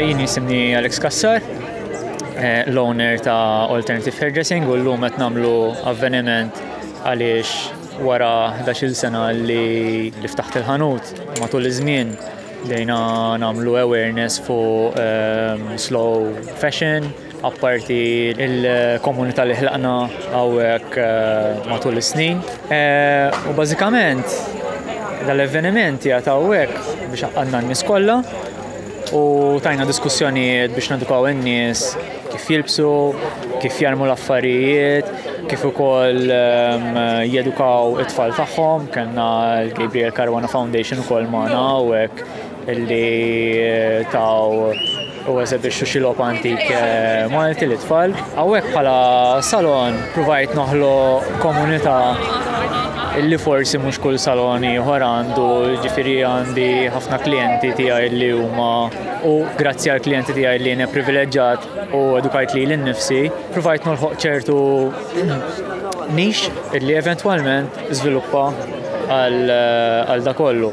Jien jisimni Alex Kassar, eh, l-owner ta' Alternative Hairdressing u l-lum qed nagħmlu avveniment għaliex wara 11 sena li li ftaħt il-ħanut matul iż-żmien dejna nagħmlu awareness fuq ehm, slow fashion, apparti l-komunità li ħlaqna hawnhekk matul is-snin. U bażikament dal-avvenimenti għad hawnhekk biex għandna n-nies kollha u tajna diskussjonijiet biex nedukaw in-nies kif jilbsu, kif jarmu l-affarijiet, kif ukoll ehm, jedukaw it-tfal tagħhom, kellna l-Gabriel Caruana Foundation ukoll magħna hawnhekk Illi taw u eżebixxu xi logħob antik eh, Malti li tfal. Hawnhekk bħala salon provajt noħlo komunità illi forsi mhux kull salon ieħor għandu ġifieri għandi ħafna klijenti tiegħi li huma u grazzi għal klijenti tiegħi li jiena privileġġat u edukajt li l-nifsi, provajt nolħoq ċertu nix illi eventwalment żviluppa għal eh, da kollu.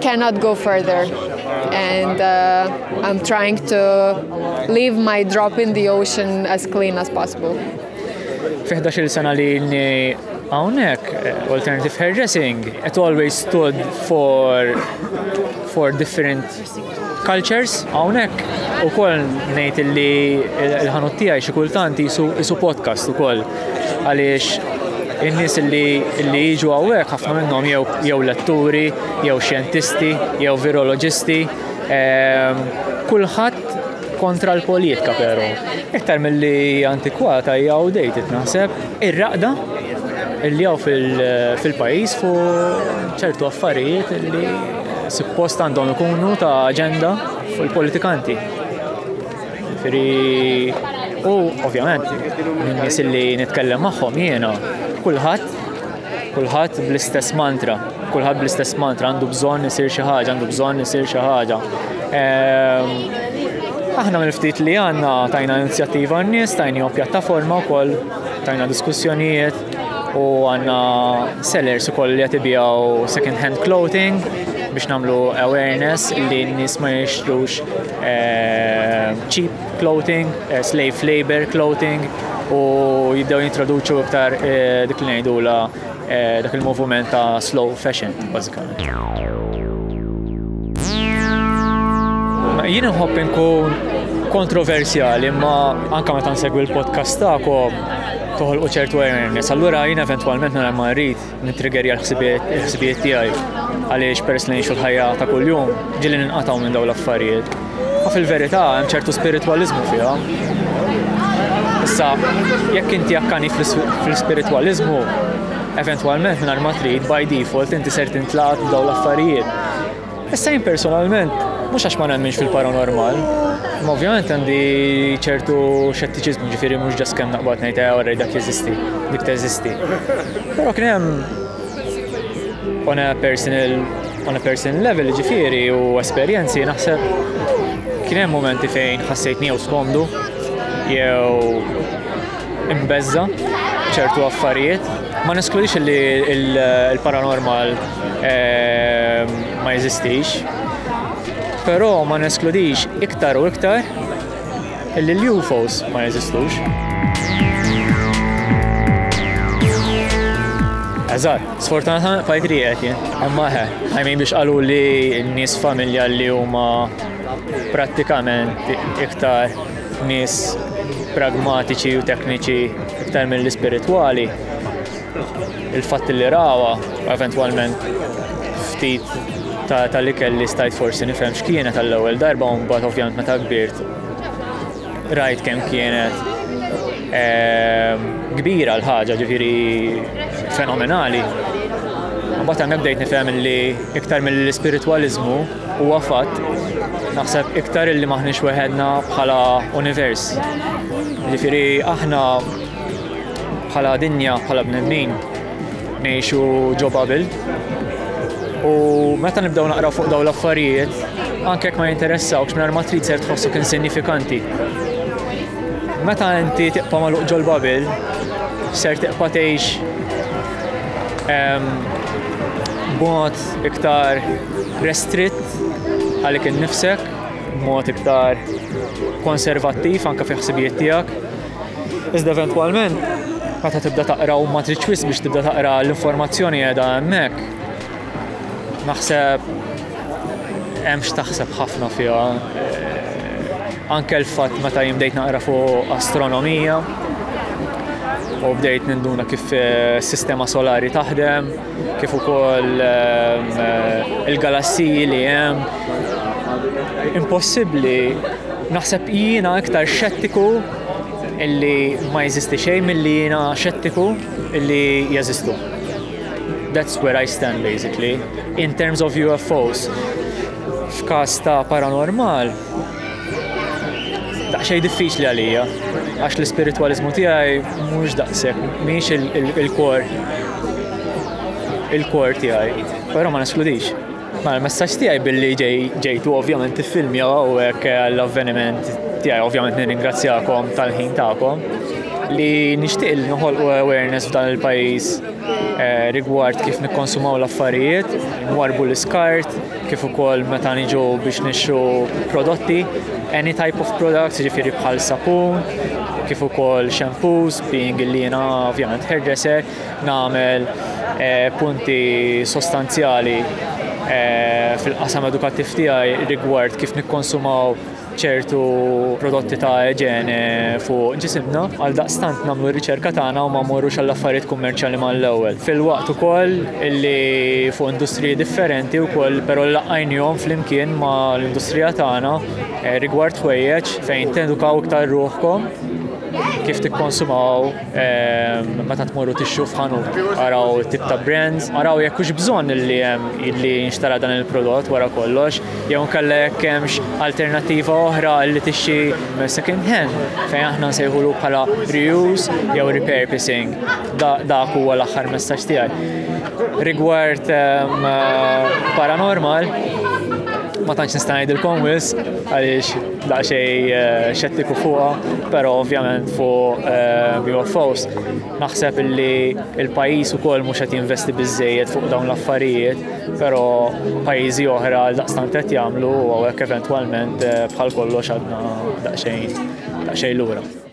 cannot go further and uh, I'm trying to leave my drop in the ocean as clean as possible. Fi 11 sena li Hawnhekk eh, alternative hairdressing it always stood for for different cultures hawnhekk ukoll ngħid li l-ħanut tiegħi xi kultant isu podcast ukoll għaliex in-nies li jiġu hawnhekk ħafna minnhom jew jew letturi, jew xjentisti, jew viroloġisti, ehm, kulħadd kontra l-politika però. Iktar mill-li antikwata hija dejt naħseb ir-raqda li jew fil-pajjiż fu ċertu affarijiet li suppost għandhom ikunu ta' aġenda fuq il-politikanti. U ovvjament, nies li nitkellem magħhom jiena, kulħadd kulħadd bl-istess mantra, kulħadd bl-istess mantra għandu bżonn isir xi ħaġa, għandu bżonn isir xi ħaġa. Ehm, aħna mill-ftit li għandna tajna inizjattiva n-nies, tajna pjattaforma wkoll, tajna diskussjonijiet u għandna sellers ukoll li qed ibijaw second hand clothing biex nagħmlu awareness li n-nies ma jixtrux cheap clothing, slave labor clothing u jibdew jintroduċu iktar dik li ngħidula dak il-moviment ta' slow fashion bażikament. Jien inħobb inkun kontroversjali, imma anke meta nsegwi l-podcast tagħkom toħolqu ċertu awareness. Allura jien eventwalment nara ma rrid Nitrigerja l-ħsibijiet tiegħi għaliex peress li ngħixu l-ħajja ta' kuljum ġili ninqatgħu minn dawn l-affarijiet. Ma fil-verità hemm ċertu spiritwaliżmu fiha. Issa, jekk inti akkani fl-spiritwaliżmu, eventwalment minn ma trid by default inti ser tintlat dawn l-affarijiet. Issa jien personalment, mhux għax ma nemminx fil-paranormal, ma ovvjament għandi ċertu xettiċiżmu ġifieri mhux ġas kemm naqbad ngħid eh orrej dak jeżisti, dik teżisti. Però kien hemm on a personal on a personal level ġifieri u esperjenzi naħseb kien hemm momenti fejn ħassejt niew skomdu jew imbeżża ċertu affarijiet. Ma neskludix li l-paranormal ehm, ma jeżistix, però ma neskludix iktar u iktar li l-UFOs ma jeżistux. Eżar, sfortunatament fajt li għet jen. Imma ħe, għajmin biex għalu li n-nis familja li huma prattikament iktar Nies pragmatiċi u tekniċi iktar mill-ispiritwali, il-fatt li rawa eventwalment ftit tal-ikel li stajt forsi nifhem x'kienet għall-ewwel darba u mbagħad ovvjament meta kbirt rajt kemm kienet ehm, kbira l-ħaġa ġifieri fenomenali. Mbagħad hemmhekk bdejt nifhem li iktar mill-ispiritwaliżmu Huwa fatt, naħseb iktar illi m'aħniex weħedna bħala univers. Ġifieri aħna bħala dinja, bħala bnedmin, ngħixu ġo Babel. U meta nibdew naqra fuq dawn l-affarijiet, anke ma jinteressawx minn ma trid ser tħossok insignifikanti. Meta inti tiqpa magħluq ġol Babel, ser tiqpa tgħix b'mod iktar restritt għalik innifsek b'mod iktar konservattiv anke fi ħsibijiet tiegħek. Iżda eventwalment meta tibda taqra u ma tridx wis biex tibda taqra l-informazzjoni qiegħda hemmhekk. Naħseb hemm x'taħseb ħafna fiha. Eh, anke l-fatt meta jimdejt naqra fuq astronomija u bdejt ninduna kif eh, sistema solari taħdem, kif ukoll il-galassiji li hemm. Impossibbli naħseb jiena iktar xettiku illi ma jeżisti xejn milli jiena xettiku illi jeżistu. That's where I stand basically in terms of UFOs. F'każ ta' paranormal, daqsxejn diffiċli għalija għax l-ispiritwaliżmu tiegħi mhux daqshekk mhix il-kor il-kor tiegħi, però ma neskludix. Ma l-messaġġ tiegħi billi ġejtu ovvjament tiffilmja hawnhekk għall-avveniment tiegħi ovvjament nirringrazzjakom tal-ħin tagħkom li nixtieq li noħolqu awareness f'dan il-pajjiż eh, rigward kif nikkonsumaw l-affarijiet, nwarbu l-iskart, kif ukoll meta niġu biex nixtru prodotti, any type of products, ġifiri bħal sapun, kif ukoll shampoos, being li jiena ovvjament hairdresser, nagħmel eh, punti sostanzjali eh, fil-qasam edukattiv tiegħi rigward kif nikkonsumaw ċertu prodotti ta' ġene fuq ġisimna, għal daqstant namlu r-riċerka tagħna u ma morrux għall affarijiet kummerċjali mal-ewwel. Fil-waqt ukoll li fuq industriji differenti wkoll però laqajnihom flimkien ma' l-industrija tagħna eh, rigward ħwejjeġ fejn tedukaw iktar ruħkom kif tikkonsumaw meta tmorru tixxu f'ħanut, araw tip ta' brands, araw jekk hux bżonn li hemm li nxtara dan il-prodott wara kollox, jew nkella jekk hemmx alternattiva oħra li tixxi second hand fejn aħna nsejħulu bħala reuse jew repurposing. Dak huwa l-aħħar messaġġ tiegħi. Rigward ehm, paranormal, ma tantx nista' ngħidilkom wisq għaliex daqsxejn eh, xettiku fuqha, però ovvjament fuq eh, UFOs naħseb li il-pajjiż ukoll mhux qed jinvesti biżejjed fuq dawn l-affarijiet, però pajjiżi oħra għal daqstant qed jagħmlu u hekk eventwalment eh, bħal kollox għadna daqsxejn daqsxejn lura.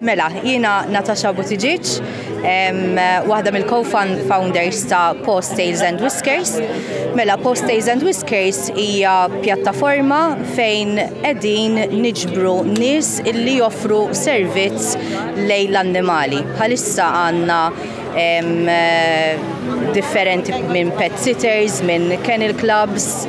Mela, jiena Natasha Buttigieg, waħda mill-co-founders ta' Post Tails and Whiskers. Mela, Post Tails and Whiskers hija pjattaforma fejn qegħdin niġbru nies illi joffru servizz lejn l-annimali. Bħalissa għandna differenti minn pet sitters, minn kennel clubs,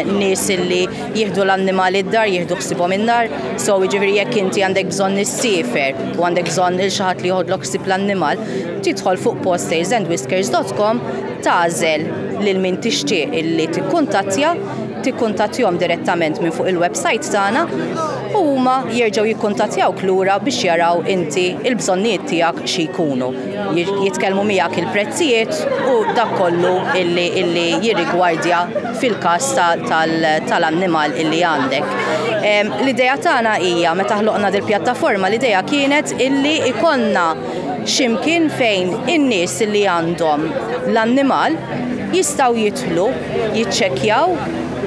nies li jieħdu l-annimali d-dar, jieħdu ħsibhom in-nar, so jiġifieri jekk inti għandek bżonn nissifer u għandek bżonn il xi ħadd li jħodlok ħsib l-annimal, tidħol fuq postairsandwhiskers.com tagħżel lil min tixtieq illi tikkuntattja tikkuntattjhom direttament minn fuq il-websajt tagħna u huma jerġgħu jikkuntattjawk lura biex jaraw inti il-bżonnijiet tiegħek xi jkunu. Jitkellmu miegħek il-prezzijiet u dak kollu illi, illi jirrigwardja fil-każ tal-annimal ta illi għandek. L-idea tagħna hija meta ħloqna dil-pjattaforma l-idea kienet illi ikonna ximkien fejn in-nies li għandhom l-annimal jistgħu jidħlu jiċċekkjaw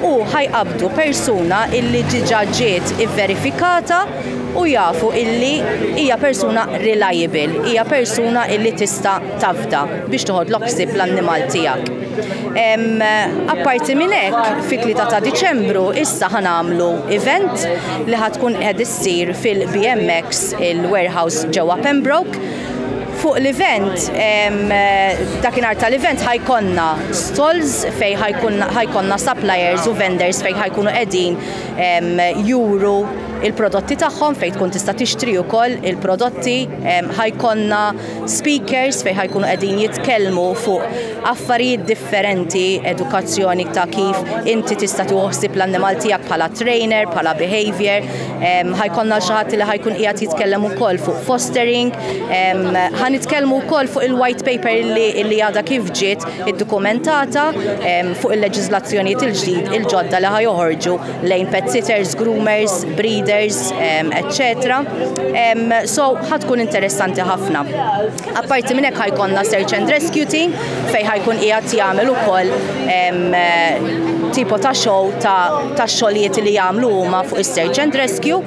u ħa jqabbdu persuna illi diġà ġiet ivverifikata u jafu illi hija persuna reliable, hija persuna illi tista' tafda biex toħodlok ħsieb l-annimal tiegħek. Apparti minn hekk, fit-3 ta' Diċembru issa ħa nagħmlu event li ħa tkun qed issir fil-BMX il-warehouse ġewwa Pembroke Fuq l-event, dakinhar tal-event ħajkonna stalls fejn ħajkonna suppliers u vendors fejn ħajkunu qegħdin juru il-prodotti tagħhom fejn tkun tista' tixtri wkoll il-prodotti. Ħajkonna speakers fejn ħajkunu qegħdin jitkellmu fuq affarijiet differenti, edukazzjoni ta' kif inti tista' tieħu ħsieb l-annimal tiegħek bħala trainer, bħala behavior. ħajkonna xi ħadd li ħajkun qiegħed jitkellem ukoll fuq fostering, ħa nitkellmu wkoll fuq il-white paper li għadha kif ġiet iddokumentata fuq il-leġiżlazzjonijiet il-ġdid il-ġodda li ħajoħorġu lejn pet sitters, groomers, breeders, etc. So ħatkun interessanti ħafna. Apparti minn hekk ħajkonna search and rescue team fejn ħajkun qiegħed jagħmel ukoll tipo ta' show ta' xogħlijiet li jagħmlu huma fuq is-search and rescue.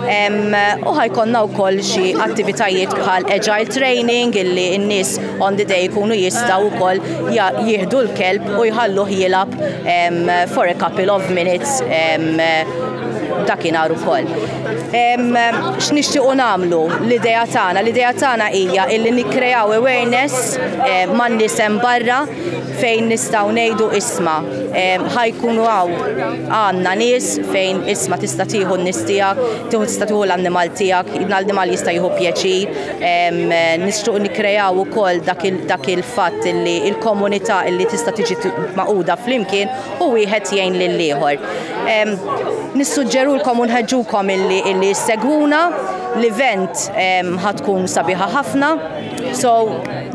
U ħajkonna wkoll xi attivitajiet bħal agile training illi n-nies on the day jkunu jistgħu wkoll jieħdu l-kelb u jħalluh jilab for a couple of minutes dakinhar ukoll. X'nixtiequ nagħmlu l-idea tagħna? L-idea tagħna hija illi nikkrejaw awareness eh, man nisem barra fejn nistgħu ngħidu isma. Ħajkunu għaw għandna nies fejn isma tista' tieħu n-nies tiegħek, tieħu tista' tieħu l-annimal tiegħek, l-annimal jista' jieħu pjaċir. Nixtiequ nikkrejaw ukoll dak il-fatt illi il-komunità illi tista' tiġi maquda flimkien u wieħed jgħin lill-ieħor. Nissuġġerulkom u nħeġġukom illi illi segwuna l-event ħatkun sabiħa ħafna. So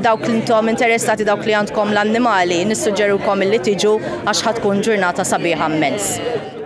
dawk li intom interessati dawk li għandkom l-annimali nissuġġerulkom illi tiġu għax ħatkun ġurnata sabiħa mmens.